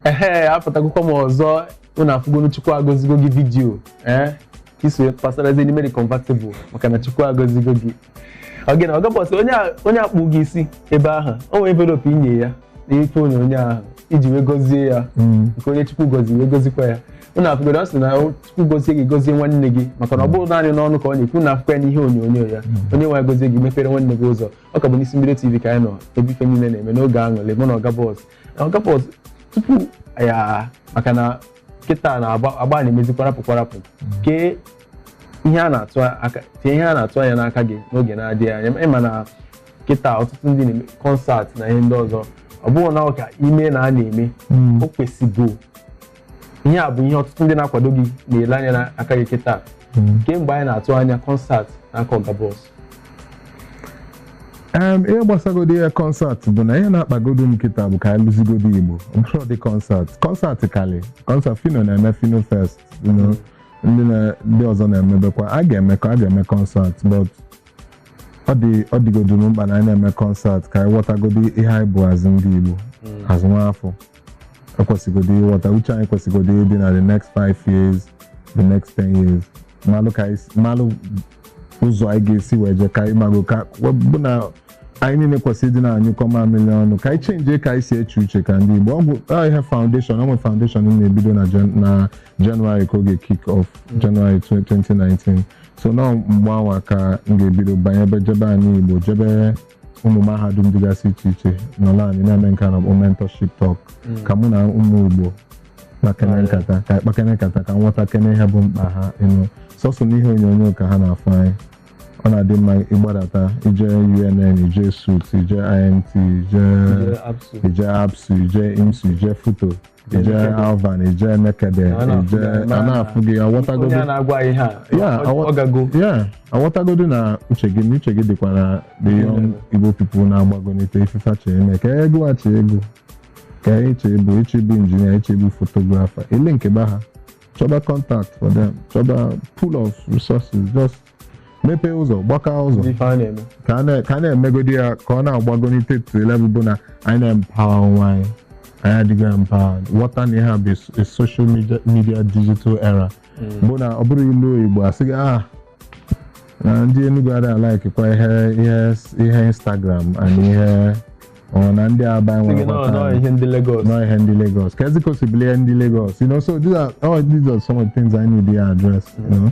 ehe apụtagokwa m ọzọ unu afụgonu chukwu agọzigo gị vidiyo ee ka iso pasarazie n'ime the convertible maka na chukwu agọzigo gị oge na ọgabọsị onye a- onye akpụ gị isi ebe ahụ o nwere envelopu inye ya n'ife onyonyo ahụ iji wee gọzie ya nke onye chukwu gọziri wee gọzikwa ya unu afụgoro ọ sị na o- chukwu gọzie gị gọzie nwanne gị maka na ọ bụrọ naanị n'ọnụ ka ọ na-ekwu na afụkwa ya n'ihe onyonyo ya onye nwe anyị gọzie gị mepere nwanne gị ụzọ ọ ka bụ n'Isimbido TV ka anyị nọ ebe ife niile na-eme n'oge aṅụlị mụ na ọga bọs ọga bọs tupu ya maka na kịta na agba agba na-emezi kwarapụ kwarapụ kee ihe a na-atụ aka kee ihe a na-atụ anya n'aka gị n'oge na-adịghị anya ị ma na kịta ọtụtụ ndị na-eme kọnsat na ihe ndị ọzọ ọ bụghị na ọ ka ime na a na-eme o kwesịgo ihe a bụ ihe ọtụtụ ndị na-akwado gị na-ele anya n'aka gị kịta mm. kemgbe anyị na-atụ anya kọnsat n'aka ọga bọs ihe gbasagodi ya kọnsat bụ na ihe na-akpagodo m kịta bụ ka anyị lụzigodo igbo bụrọdị kọnsat kọnsat kali kọnsat Phyno na-eme Phyno Fest mm. ndị ọzọ na-emebekwa a ga-emekọ a ga-eme kọnsat but ọ dịgodo m mkpa na anyị na-eme kọnsat ka anyị ghọtagodi ihe anyị bụ as ndị igbo mm. as nwa afọ ekwesịgodo ịghọta uche anyị kwesịgodo ịdị na the next five years the next ten years malụ ka anyị si- malụ ụzọ anyị ga-esi wee je ka anyị mago ka bụ na anyị niile kwesịrị ịdị na-anyụkọ mamịrị ọnụ ka anyị chenjie ka anyị si eche uche ka ndị Igbo ọ bụ ọ ihe foundation ọ nwere foundation m na-ebido na Jan- na January ka ọ ga-kick off January 2019 so na mgbe anwa ka m ga-ebido banyebe jebe anị Igbo jebe ụmụ mahadum dịgasị iche iche n'ala anyị na-eme nke a na-akpọ mentorship talk ka mụ na ụmụ Igbo kpakene nkata ka kpakene nkata ka m ghọtakene ihe bụ mkpa ha ịnụ sọsọ n'ihe onyonyo ka ha na-afụ anyị ọ na-adị mma ịgbadata ije UNN ije ESUT ije IMT ije ije ABSU ije IMSU ije FUTO ije Alvan ije Nekede A na-afụ ije gị, a na-afụ gị onye a aghọtagodu na-agwa ihe a Ya, ọ- awa- ọ gago ya aghọtagodu na uche gị na uche gị dịkwa na the young igbo people na-agbagonite ife fa chọ ime ka ego a chee ego ka anyị chee bụ ịchọ ịbụ injinia ịchọ ịbụ fotografa elinkiba ha chọba contact for them chọba pool of resources just mepee ụzọ gbakaa ụzọ ndị ife a na-eme ka a na- ka a na-emegodi ya ka ọ na-agbagonite to a level bụ na anyị na-empower onwe anyị anyị adịghị empowered ghọta na ihe a bụ a s- a social media, media digital era bụ na ọ bụrụ i luo Igbo asị gị ah na ndị Enugu adịghị alaikikwa ihe ihe ihe Instagram and ihe ọ na ndị Aba Sị gị, enwere "No, no, ihe ndị Lagos nọ ihe ndị Lagos ka ezikosibilie ndị Lagos you know so these are all these are some of the things I need to address you know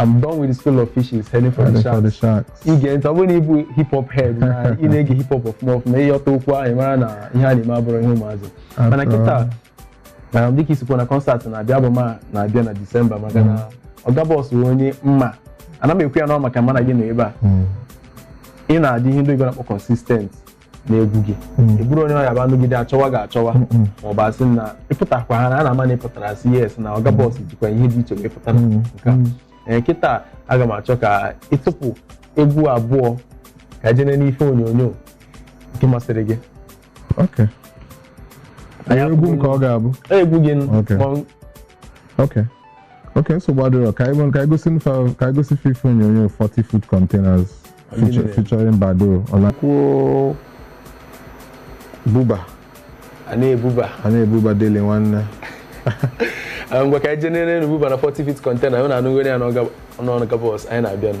I'm done with the school of fishes heading for the sharks. For the sharks. I gee ntị ọ bụrụ na ị bụ hip hop head na ị na-ege hip hop ọfụma ọfụma ị ghọta okwu ahụ mara na ihe a na-eme abụrọ ihe ụmụazị mana kịta na dịka i si kwuo na concert na-abịa bụ ma na-abịa na Disemba maka na Oga Boss bụ onye mma ana m ekwu ya na ọ maka mụ na gị nọ ebe a ị na-adị ihe ndị oyibo na-akpọ consistent n'egwu gị mm. ị bụrọ onye ọ ya-abụ a nọgide achọwa gị achọwa mm, mm. ma ọ bụ asị na ị pụtakwa ha na a na-ama na ị pụtara a sị yes na Oga Boss jikwa ihe dị iche wee pụtara nke a ee kịta aga m achọ ka ị tụpụ egwu abụọ ka e jene n'ife onyonyo nke masịrị gị egwu nke ọ ga-abụ e, egwu gị okay nsogbu adịrọ ka anyị gosi ife onyonyo 40 foot containers Feature- featuring Baddo Ola kwuo buba a na-ebuba a na-ebuba daalụ nwanne Ah, ngwa ka anyị jenere nu buba na 40 feet container anyị na-anụgoro ya n'ọga- n'ọnụ Oga Boss anyị na-abịanụ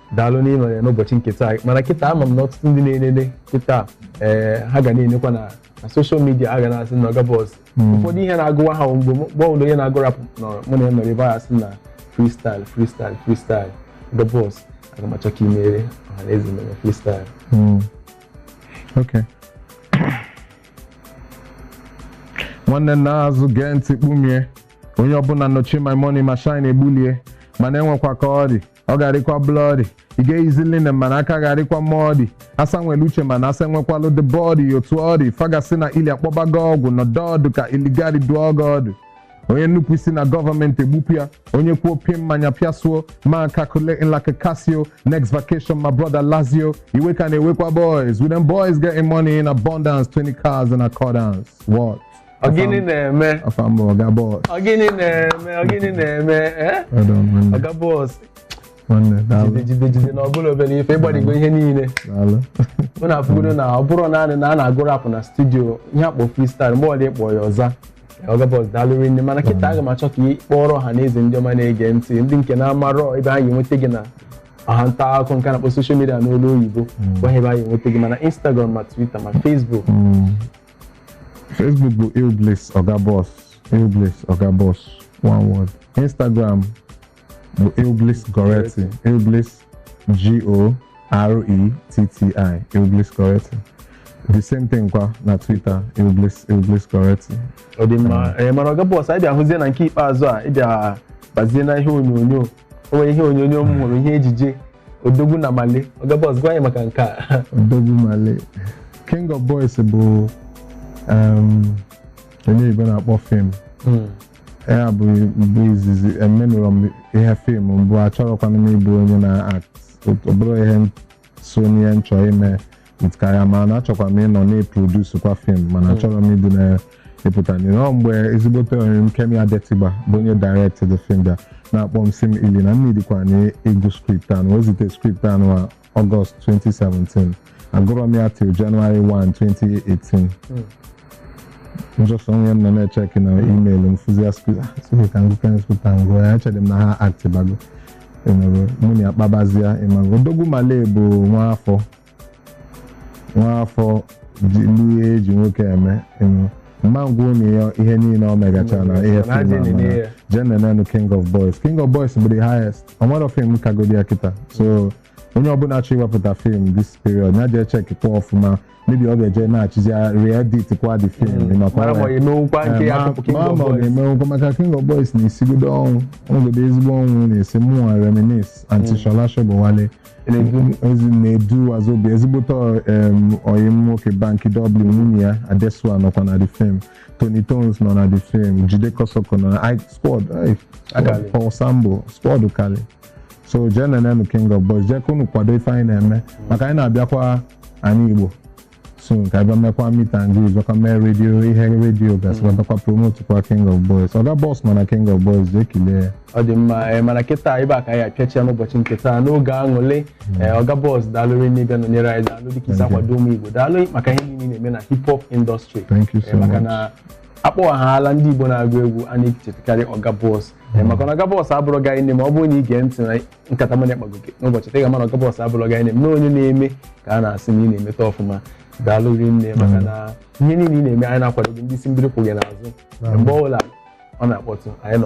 daalụ n'ịnọ ya n'ụbọchị nke taa mana kịta ama m na ọtụtụ ndị na-enene kịta ee ha ga na-enekwa na na social media ha ga na-asị na Oga Boss ụfọdụ ihe na-agụwa ha mgbe mụ- mgbe ọbụla onye na-agụ rap nọ mụ na ya nọrọ ebe a sị na freestyle freestyle freestyle Oga Boss aga m achọ ka i meere ọha na eze mere freestyle Okay. nwanne naa azụ gee ntị kpumie onye ọbụla nọchie my money machine egbulie mana e nwekwa ka ọ dị ọ ga-arịkwa bloody ị ga-eyizi linen mana aka ga-arịkwa muddy asa nwere uche mana asa enwekwalụ the body otu ọ dị fa ga-asị na Illy akpọbago ọgwụ nọdụ ọdụ ka Illygaty dụọ gị ọdụ onye nnupụ isi na gọọmenti egbupụ ya onye kwuo pie mmanya pịasuo ma calculating like a Casio next vacation my brother Lazio iwe ka na-ewekwa boys with them boys getting money in abundance 20 cars in accordance what Ọgịnị na-eme? Afa m bụ Oga Boss. Ọgịnị na-eme? Ọgịnị na-eme? Eh? Oga Boss. Jide jide jide na ọ bụrọ obere ife ị gbadigo ihe niile. Mụ na afụgodo na ọ bụrọ naanị na a na-agụ rap na studio ihe a kpọ freestyle mgbe ọbụla ị kpọ ya ọ za. Oga Boss daalụ rinne mana kịta aga m achọ ka ị kọọrọ ọha na eze ndị ọma na-ege ntị ndị nke na-amarọ ebe anyị enweta gị na ọwa nta akụkọ nke a na-akpọ social media n'olu oyibo gwa ebe anyị enweta gị ma na Instagram ma Twitter ma Facebook. Facebook bụ Illbliss Oga Boss Illbliss Oga Boss one word Instagram bụ Illbliss Goretti Illbliss G-O-R-E-T-T-I Illbliss Goretti the same thing kwa na Twitter Illbliss Illbliss Goretti ọ dị mma ee mana Oga Boss anyị bịa hụzie na nke ikpeazụ a ị bịa bazie na ihe onyonyo o nwere ihe onyonyo m hụrụ ihe ejije odogwu na malay oga boss gwa anyị maka nke a odogwu malay king of boys bụ ihe ndị igbo na-akpọ fim hmm. ya bụ mbụ izizi emenụrọ m ihe fim mbụ achọrọkwana m ịbụ onye na-act ọ bụrọ ihe so n'ihe m chọọ ime with career m mana achọkwa m ịnọ na-eproduce kwa fim mana achọrọ m ịdị na-epụta n'ihe ọ mgbe ezigbote ọyị m Kemi Adetiba bụ onye direct the film bịa na-akpọ m sị m Illy na m needịkwa na ị gụ script a nwa o zite script a nwa August 2017 agụrọ m ya till January 1 2018 just on new year m nọ na-echeki na email m fụzia sị ka m gụkwa script a m gụọ ya echere m na ha actibago ịnụrụ mụ na ya kpabazia ị mago odogwu malay bụ nwa afọ nwa afọ ji ihe eji nwoke eme ịnụrụ mma ngwa unu ya ihe niile o megachara na ihe Mana fim a ja-enene mara. ya. jee nenenu king of boys king of boys bụ the highest ọ nwere fim kagodi ya kịta so onye ọbụla chọ iwepụta fim this period ya jee chekikwa ọfụma maybe ọ ga-eje na-achịzi re-edit kwa the film ị makwa mara ma ya. ọ emewukwa nke ya tupu King ma of ma ọ Boys. ga-emewụkwa maka King of Boys na-esigodo ọnwụ ogodo ezigbo ọnwụ na-esi mụnwa Reminisce aunty Sola Sobowale Na-edu. ezi na-edu wazobia ezigbote em, ọyị m nwoke Banky W nwunye ya adesua nọkwa na the film Toni Tones nọ na the film Jide Kosoko nọ na I- squad ai, Akali. Paul Sambo squad kali so jee nenenu King of Boys jee ka unu kwado ife anyị na-eme maka anyị na-abịakwa anị igbo soon ka a bịa mekwa meet and greet ọka mee redio ihe redio gasịkwa bịakwa promotukwa king of boys oga boss mana king of boys jee kilee ya ọ dị mma ee, mana kịta ebe a ka anyị apịachia n'ụbọchị nke taa n'oge aṅụle ee, oga boss daalụrị n'ịbịa nọnyere anyị daalụ dịka i si Thank you. akwado ụmụ igbo daalụ maka ihe niile ị na-eme na hip hop industry Thank you so Ee, maka much. na a kpọwa aha ndị igbo na-agụ egwu a na-echetakarị oga boss Ee, maka na oga boss abụrụ gaghị nne ma ọ bụrụ na ị gee ntị na nkata mụ na ya kpagoro n'ụbọchị taa ị ga-ama na oga boss abụlọ gị na-eme onye na-eme ka a na-asị na ị na-emeta ọfụma daalụ rinne maka na ihe niile ị na-eme anyị na-akwado gị ndị isi mbido kwụ gị n'azụ mgbe ọbụla ọ na-akpọtụ anyị nọkwa